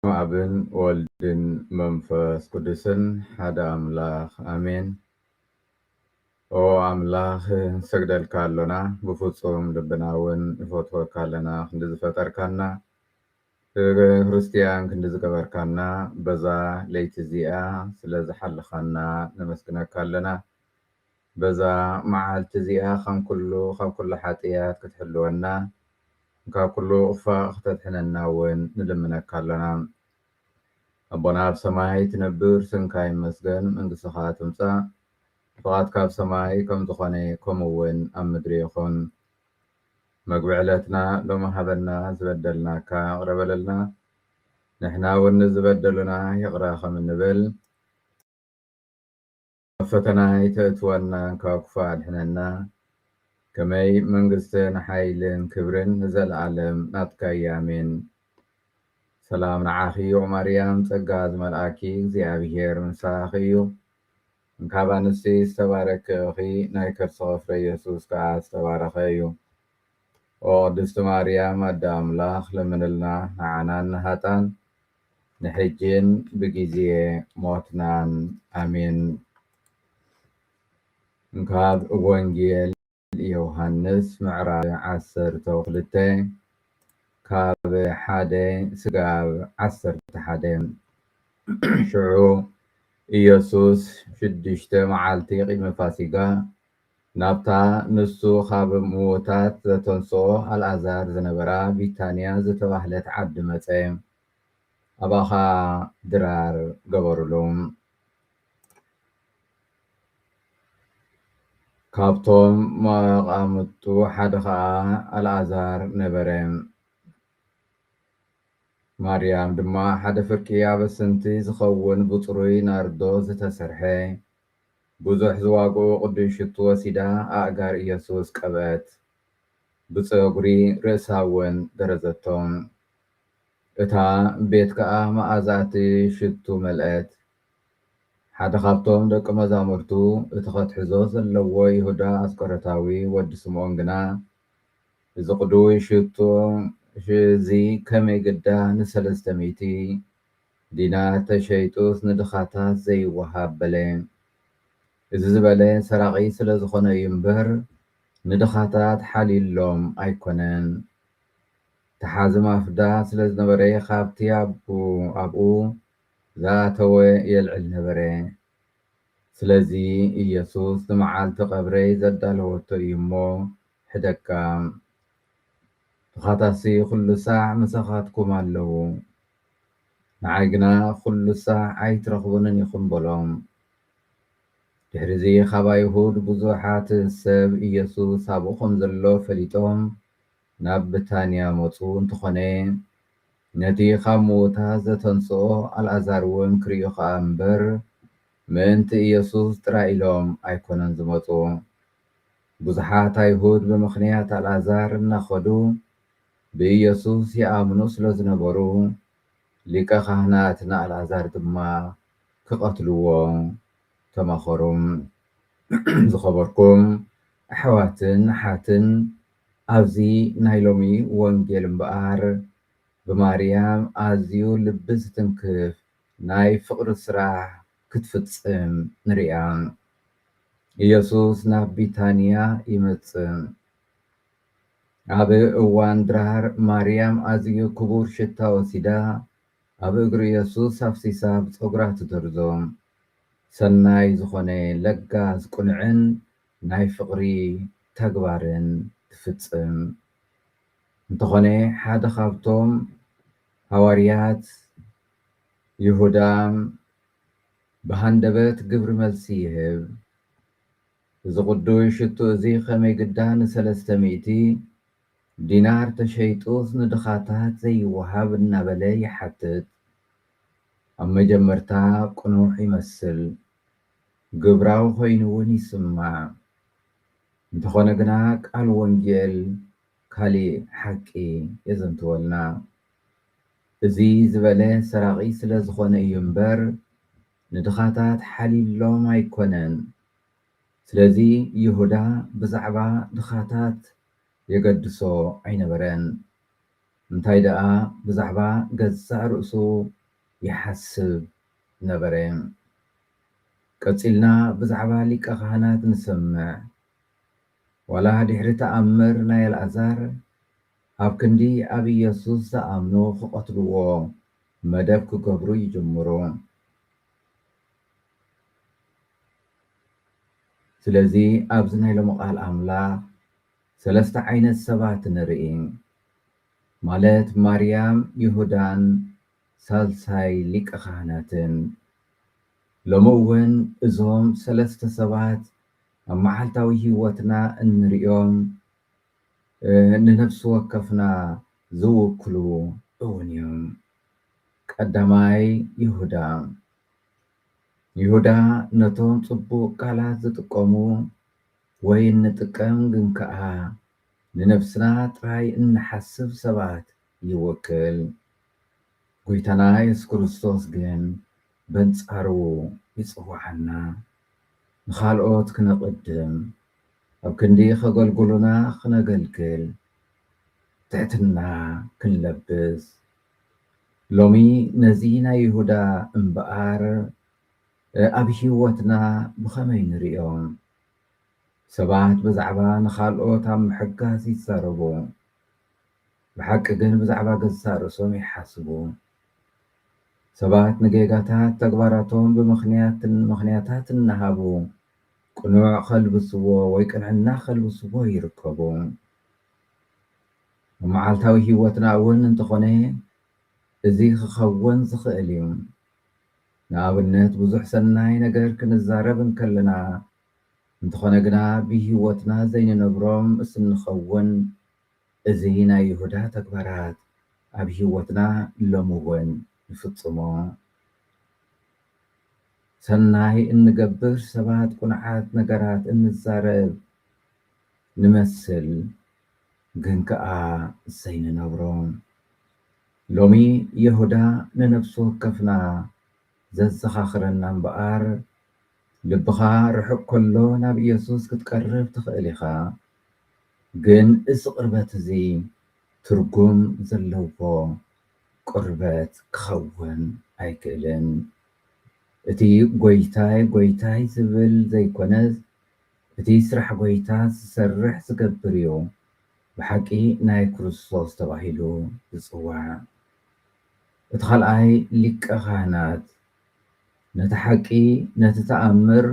በስመ ኣብን ወልድን መንፈስ ቅዱስን ሓደ ኣምላክ ኣሜን ኦ ኣምላክ ንሰግደልካ ኣሎና ብፍጹም ልብና ውን ንፈትወካ ኣለና ክንዲ ዝፈጠርካና ክርስትያን ክንዲ ዝገበርካና በዛ ለይቲ እዚኣ ስለ ዝሓልኻና ነመስግነካ ኣለና በዛ መዓልቲ እዚኣ ኸም ኵሉ ኻብ ኵሉ ሓጥያት ክትሕልወና፣ ካብ ኵሉ ኡፋእ ኽተድሕነና እውን ንልምነካ ኣሎና። ኣቦና ኣብ ሰማይ ትነብር፣ ስምካ ይመስገን፣ መንግስትኻ ትምጻእ፣ ፍቓድካ ኣብ ሰማይ ከም ዝዀነ ከምኡ እውን ኣብ ምድሪ ይኹን። መግቢ ዕለትና ሎሚ ሃበና፣ ዝበደልናካ ይቕረ በለልና፣ ንሕና እውን ንዝበደሉና ይቕረ ኸም እንብል፣ ኣብ ፈተና ኣይተእትወና እንካብ ክፉእ ኣድሕነና ከመይ መንግስትን ሓይልን ክብርን ንዘልኣለም ናትካ እዩ ኣሜን ሰላም ንዓኺ ኦም ኣርያም ጸጋ ዝመልኣኪ እግዚኣብሄር ምሳኺ እዩ እንካብ ኣንስቲ ዝተባረኪ እኺ ናይ ከርስኺ ፍረ የሱስ ከኣ ዝተባረኸ እዩ ኦ ቅድስቲ ማርያም ኣደ ኣምላኽ ለምንልና ንዓናን ንሃጣን ንሕጂን ብግዜ ሞትናን ኣሜን። ካብ ወንጌል ዮሃንስ ምዕራፍ ዓሰርተ ክልተ ካብ ሓደ ስጋብ ዓሰርተ ሓደ ሽዑ ኢየሱስ ሽዱሽተ መዓልቲ ቅድሚ ፋሲጋ ናብታ ንሱ ኻብ ምዉታት ዘተንስኦ ኣልኣዛር ዝነበራ ቢታንያ ዝተባህለት ዓዲ መጸ። ኣብኣ ኸኣ ድራር ገበሩሉ። ካብቶም መቓምጡ ሓደ ኸኣ ኣልኣዛር ነበረ። ማርያም ድማ ሓደ ፍርቂ ኣበስንቲ ዚኸውን ብጽሩይ ናርዶ ዝተሰርሐ ብዙሕ ዝዋግኡ ቅዱስ ሽቱ ወሲዳ ኣእጋር ኢየሱስ ቀብአት፣ ብጸጉሪ ርእሳ'ውን ገረዘቶ። እታ ቤት ከኣ መኣዛ እቲ ሽቱ መልአት። ሓደ ካብቶም ደቂ መዛሙርቱ እቲ ከትሕዞ ዘለዎ ይሁዳ ኣስቆሮታዊ ወዲ ስምኦን ግና እዚ ቅዱስ ሽቱ እዚ ከመይ ግዳ ንሰለስተ ሚእቲ ዲናር ተሸይጡስ ንድኻታት ዘይወሃብ በለ። እዚ ዝበለ ሰራቒ ስለ ዝኾነ እዩ እምበር ንድኻታት ሓልዩሎም ኣይኮነን። ተሓዚ ማፍዳ ስለ ዝነበረ ካብቲ ኣብኡ ዝኣተወ የልዕል ነበረ። ስለዚ ኢየሱስ ንመዓልቲ ቀብረይ ዘዳለወቶ እዩ እሞ ሕደጋ ድኻታትሲ ኹሉ ሳዕ ምሳኻትኩም ኣለዉ፣ ንዓይ ግና ኹሉ ሳዕ ኣይትረኽቡንን ኢኹም በሎም። ድሕርዚ ኻብ ኣይሁድ ብዙሓት ሰብ ኢየሱስ ኣብኡ ኸም ዘሎ ፈሊጦም ናብ ብታንያ መጹ፣ እንተኾነ ነቲ ኻብ ምዉታት ዘተንስኦ ኣልኣዛርውን ክርእዩ ኸኣ እምበር ምእንቲ ኢየሱስ ጥራይ ኢሎም ኣይኮነን ዝመጹ። ብዙሓት ኣይሁድ ብምኽንያት ኣልኣዛር እናኸዱ ብኢየሱስ ይኣምኑ ስለ ዝነበሩ፣ ሊቀ ኻህናት ንኣልኣዛር ድማ ክቐትልዎ ተማኸሩ። ዝኸበርኩም ኣሕዋትን ኣሓትን፣ ኣብዚ ናይ ሎሚ ወንጌል እምበኣር ብማርያም ኣዝዩ ልቢ ዝትንክፍ ናይ ፍቕሪ ስራሕ ክትፍጽም ንርእያ። ኢየሱስ ናብ ቢታንያ ይመጽእ። ኣብ እዋን ድራር ማርያም ኣዝዩ ክቡር ሽታ ወሲዳ ኣብ እግሪ ኢየሱስ ኣፍሲሳ ብጸጉራ ትደርዞ። ሰናይ ዝኾነ ለጋስ ቁኑዕን ናይ ፍቕሪ ተግባርን ትፍጽም። እንተኾነ ሓደ ካብቶም ሃዋርያት ይሁዳ፣ ብሃንደበት ግብሪ መልሲ ይህብ። እዚ ቕዱስ ሽቱ እዚ ኸመይ ግዳ ንሰለስተ ሚእቲ ዲናር ተሸይጡስ ንድኻታት ዘይወሃብ? እናበለ ይሓትት። ኣብ መጀመርታ ቅኑዕ ይመስል፣ ግብራዊ ዀይኑ እውን ይስማዕ። እንተዀነ ግና፣ ቃል ወንጌል ካልእ ሓቂ የዘንትወልና። እዚ ዝበለ ሰራቒ ስለ ዝኾነ እዩ እምበር ንድኻታት ሓልዩሎም ኣይኮነን። ስለዚ ይሁዳ ብዛዕባ ድኻታት የገድሶ ኣይነበረን። እንታይ ደኣ ብዛዕባ ገዛእ ርእሱ ይሓስብ ነበረ። ቀጺልና ብዛዕባ ሊቀ ኻህናት ንሰምዕ። ዋላ ድሕሪ ተኣምር ናይ ኣልኣዛር ኣብ ክንዲ ኣብ ኢየሱስ ዝኣምኑ ክቐትልዎ መደብ ክገብሩ ይጅምሩ። ስለዚ ኣብዚ ናይ ሎሚ ቃል ኣምላኽ ሰለስተ ዓይነት ሰባት ንርኢ ማለት ማርያም ይሁዳን ሳልሳይ ሊቀ ካህናትን። ሎሚ እውን እዞም ሰለስተ ሰባት ኣብ መዓልታዊ ሕይወትና እንርእዮም ንነፍሲ ወከፍና ዝውክሉ እውን እዮም። ቀዳማይ ይሁዳ ይሁዳ ነቶም ጽቡቕ ቃላት ዝጥቀሙ ወይ እንጥቀም ግን ከኣ ንነፍስና ጥራይ እንሓስብ ሰባት ይውክል። ጐይታና የሱስ ክርስቶስ ግን በንጻሩ ይጽውዓና። ንኻልኦት ክነቕድም፣ ኣብ ክንዲ ከገልግሉና ክነገልግል ትሕትና ክንለብስ፣ ሎሚ ነዚ ናይ ይሁዳ እምበኣር ኣብ ህይወትና ብኸመይ ንርእዮ? ሰባት ብዛዕባ ንኻልኦት ኣብ ምሕጋዝ ይዛረቡ። ብሓቂ ግን ብዛዕባ ገዛእ ርእሶም ይሓስቡ። ሰባት ንጌጋታት ተግባራቶም ብምኽንያትን ምኽንያታት እናሃቡ ቅኑዕ ከልብስዎ ወይ ቅንዕና ከልብስዎ ይርከቡ። ኣብ መዓልታዊ ህይወትና እውን እንተኾነ እዚ ክኸውን ዝኽእል እዩ። ንኣብነት ብዙሕ ሰናይ ነገር ክንዛረብ እንከለና እንተኾነ ግና ብህይወትና ዘይንነብሮም ምስ እንኸውን እዚ ናይ ይሁዳ ተግባራት ኣብ ህይወትና ሎሚ እውን ንፍጽሞ። ሰናይ እንገብር ሰባት ቁኑዓት ነገራት እንዛረብ ንመስል ግን ከኣ ዘይንነብሮ። ሎሚ ይሁዳ ንነብሲ ወከፍና ዘዘኻኽረና እምበኣር ልብኻ ርሑቅ ከሎ ናብ ኢየሱስ ክትቀርብ ትኽእል ኢኻ። ግን እዚ ቅርበት እዚ ትርጉም ዘለዎ ቅርበት ክኸውን ኣይክእልን። እቲ ጎይታይ ጎይታይ ዝብል ዘይኮነስ እቲ ስራሕ ጎይታ ዝሰርሕ ዝገብር እዩ ብሓቂ ናይ ክርስቶስ ተባሂሉ ዝጽዋዕ። እቲ ካልኣይ ሊቀ ካህናት ነቲ ሓቂ ነቲ ተኣምር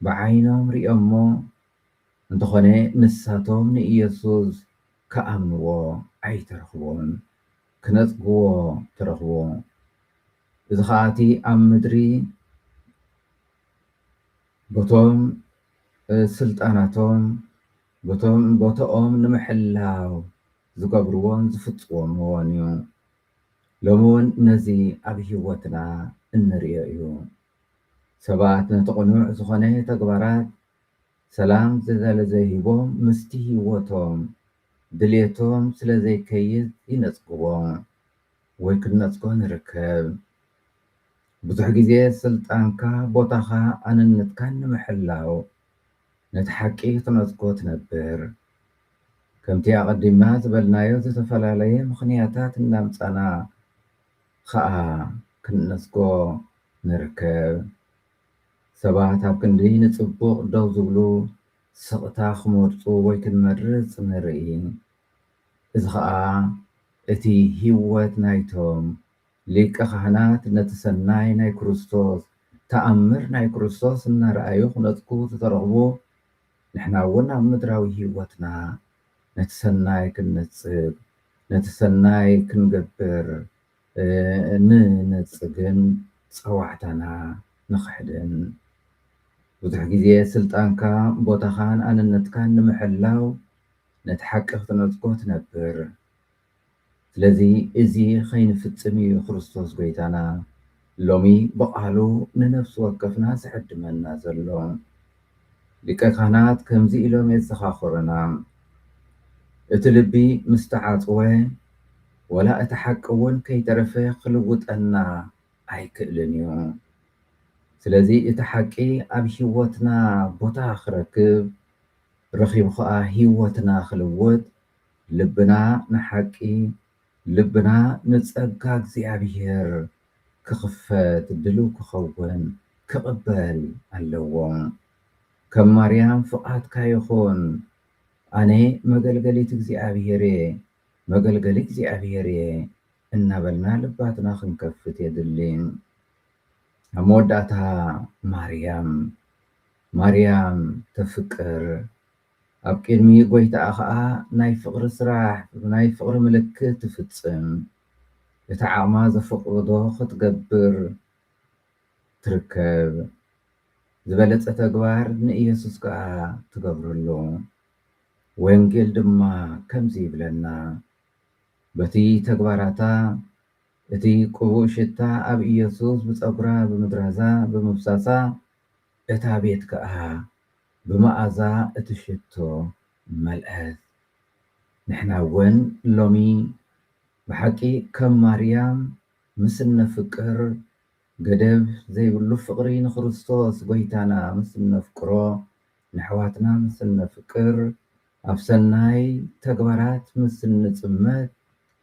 ብዓይኖም ርእዮሞ እንተኾነ ንሳቶም ንኢየሱስ ክኣምንዎ ኣይተረኽቦን፣ ክነጽግዎ ተረኽቡ። እዚ ኸኣ እቲ ኣብ ምድሪ በቶም ስልጣናቶም በቶም ቦትኦም ንምሕላው ዝገብርዎን ዝፍጽምዎን እዩ። ሎሚ እውን ነዚ ኣብ ሕይወትና እንርእዮ እዩ። ሰባት ነቲ ቅኑዕ ዝኾነ ተግባራት ሰላም ስለዘይሂቦም ምስቲ ሂወቶም ድልየቶም ስለዘይከይድ ይነጽግዎ ወይ ክንነጽጎ ንርከብ። ብዙሕ ግዜ ስልጣንካ ቦታኻ ኣነነትካን ንምሕላው ነቲ ሓቂ ክትነጽጎ ትነብር። ከምቲ ኣቐዲምና ዝበልናዮ ዝተፈላለየ ምኽንያታት እናምጻና ኸኣ ክንነጽጎ ንርከብ። ሰባት ኣብ ክንዲ ንጽቡቕ ደው ዝብሉ፣ ስቕታ ክመርጹ ወይ ክንመርጽ ንርኢ። እዚ ኸኣ እቲ ህይወት ናይቶም ሊቀ ኻህናት ነቲ ሰናይ ናይ ክርስቶስ ተኣምር ናይ ክርስቶስ እናረኣዩ ክነጽጉ ዝተረኽቡ፣ ንሕና እውን ኣብ ምድራዊ ህይወትና ነቲ ሰናይ ክንነጽግ፣ ነቲ ሰናይ ክንገብር ንነጽግን ጸዋዕታና ንኽሕድን። ብዙሕ ግዜ ስልጣንካ፣ ቦታኻን ኣንነትካን ንምሕላው ነቲ ሓቂ ክትነጽጎ ትነብር። ስለዚ እዚ ከይንፍጽም ኢዩ ክርስቶስ ጎይታና፣ ሎሚ ብቓሉ ንነፍሲ ወከፍና ዝዕድመና ዘሎ ሊቀ ካህናት ከምዚ ኢሎም የዘኻኽሩና፣ እቲ ልቢ ምስ ተዓጽወ ወላ እቲ ሓቂ እውን ከይተረፈ ክልውጠና ኣይክእልን እዩ። ስለዚ እቲ ሓቂ ኣብ ህይወትና ቦታ ክረክብ ረኺቡ ኸኣ ህይወትና ክልውጥ ልብና ንሓቂ ልብና ንጸጋ እግዚኣብሔር ክኽፈት ድልው ክኸውን ክቕበል ኣለዎ። ከም ማርያም ፍቓድካ ይኹን ኣነ መገልገሊት እግዚኣብሔር እየ መገልገሊ እግዚኣብሔር እየ እናበልና ልባትና ክንከፍት የድሊ። ኣብ መወዳእታ ማርያም ማርያም ተፍቅር ኣብ ቅድሚ ጐይታኣ ኸኣ ናይ ፍቕሪ ስራሕ ብናይ ፍቕሪ ምልክት ትፍጽም፣ እቲ ዓቕማ ዘፍቕዶ ኽትገብር ትርከብ። ዝበለጸ ተግባር ንኢየሱስ ከኣ ትገብረሉ። ወንጌል ድማ ከምዚ ይብለና፣ በቲ ተግባራታ እቲ ቅቡእ ሽታ ኣብ ኢየሱስ ብጸጕራ ብምድራዛ ብምፍሳሳ እታ ቤት ከኣ ብመኣዛ እቲ ሽቶ መልአት። ንሕና እውን ሎሚ ብሓቂ ከም ማርያም ምስ እነፍቅር፣ ገደብ ዘይብሉ ፍቕሪ ንክርስቶስ ጐይታና ምስ እነፍቅሮ፣ ንኣሕዋትና ምስ እነፍቅር፣ ኣብ ሰናይ ተግባራት ምስ እንጽመድ፣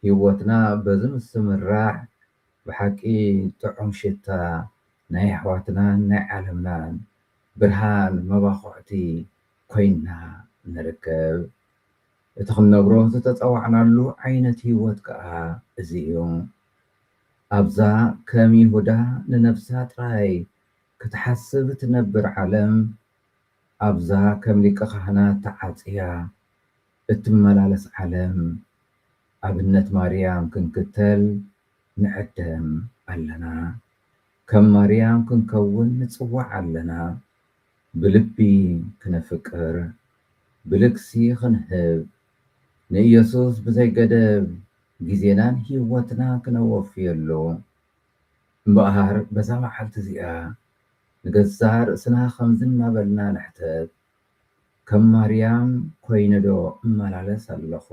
ህይወትና በዚ ምስ እምራሕ ብሓቂ ጥዑም ሽታ ናይ ኣሕዋትናን ናይ ዓለምናን ብርሃን መባኹዕቲ ኮይንና ንርከብ። እቲ ክንነብሮ ዝተጸዋዕናሉ ዓይነት ህይወት ከኣ እዚ እዩ። ኣብዛ ከም ይሁዳ ንነብሳ ጥራይ ክትሓስብ እትነብር ዓለም፣ ኣብዛ ከም ሊቀ-ካህናት ተዓጽያ እትመላለስ ዓለም ኣብነት ማርያም ክንክተል ንዕደም ኣለና። ከም ማርያም ክንከውን ንጽዋዕ ኣለና። ብልቢ ክነፍቅር፣ ብልግሲ ክንህብ፣ ንኢየሱስ ብዘይ ገደብ ግዜናን ሕይወትናን ክነወፍየሉ። እምበኣር በዛ መዓልቲ እዚኣ ንገዛእ ርእስና ከምዚ እናበልና ንሕተት፣ ከም ማርያም ኮይነዶ እመላለስ ኣለኹ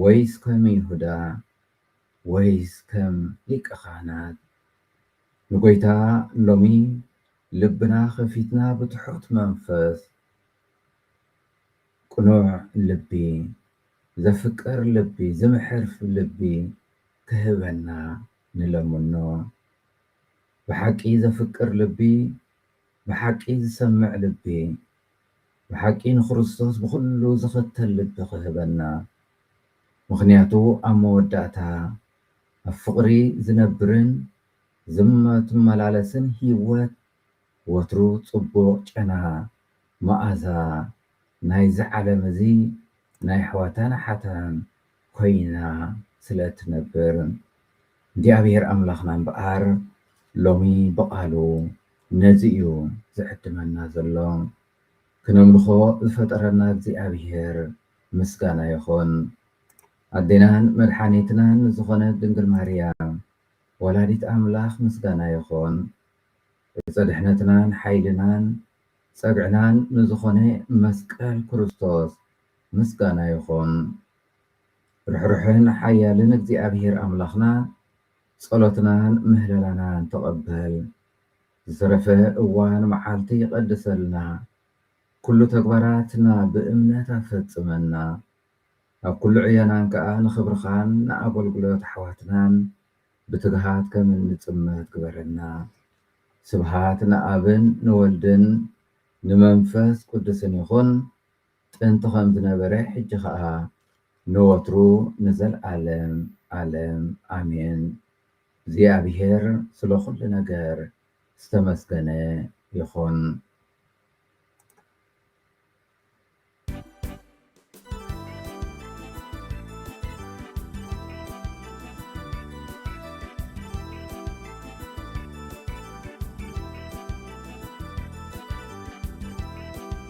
ወይስ ከም ይሁዳ ወይስ ከም ሊቀ ካህናት ንጎይታ ሎሚ ልብና ከፊትና ብትሑት መንፈስ ቅኑዕ ልቢ ዘፍቅር ልቢ ዝምሕር ልቢ ክህበና ንለምኖ ብሓቂ ዘፍቅር ልቢ ብሓቂ ዝሰምዕ ልቢ ብሓቂ ንክርስቶስ ብኹሉ ዝኽተል ልቢ ክህበና ምኽንያቱ ኣብ መወዳእታ ኣብ ፍቕሪ ዝነብርን ዝመትመላለስን ሂወት ወትሩ ጽቡቕ ጨና መኣዛ ናይዚ ዓለም እዚ ናይ ኣሕዋታን ኣሓታን ኮይና ስለ ትነብር እግዚኣብሄር ኣምላኽና እምበኣር ሎሚ ብቓሉ ነዚ እዩ ዝዕድመና ዘሎ። ክነምልኾ ዝፈጠረና እግዚኣብሄር ምስጋና ይኹን። ኣዴናን መድሓኒትናን ዝኾነት ድንግል ማርያም ወላዲት ኣምላኽ ምስጋና ይኹን። ዕፀ ድሕነትናን ሓይልናን ፀግዕናን ንዝኾነ መስቀል ክርስቶስ ምስጋና ይኹን ርሕሩሕን ሓያልን እግዚኣብሄር ኣምላኽና ጸሎትናን ምህለላናን ተቐበል ዝተረፈ እዋን መዓልቲ ይቐድሰልና ኩሉ ተግባራትና ብእምነት ኣፈጽመና ኣብ ኩሉ ዕዮናን ከኣ ንኽብርኻን ንኣገልግሎት ኣሕዋትናን ብትግሃት ከም እንጽመት ግበረና ስብሃት ንኣብን ንወልድን ንመንፈስ ቅዱስን ይኹን ጥንቲ ከም ዝነበረ ሕጂ ከኣ ንወትሩ ንዘልኣለም ኣለም ኣሜን እግዚኣብሔር ስለ ኩሉ ነገር ዝተመስገነ ይኩን።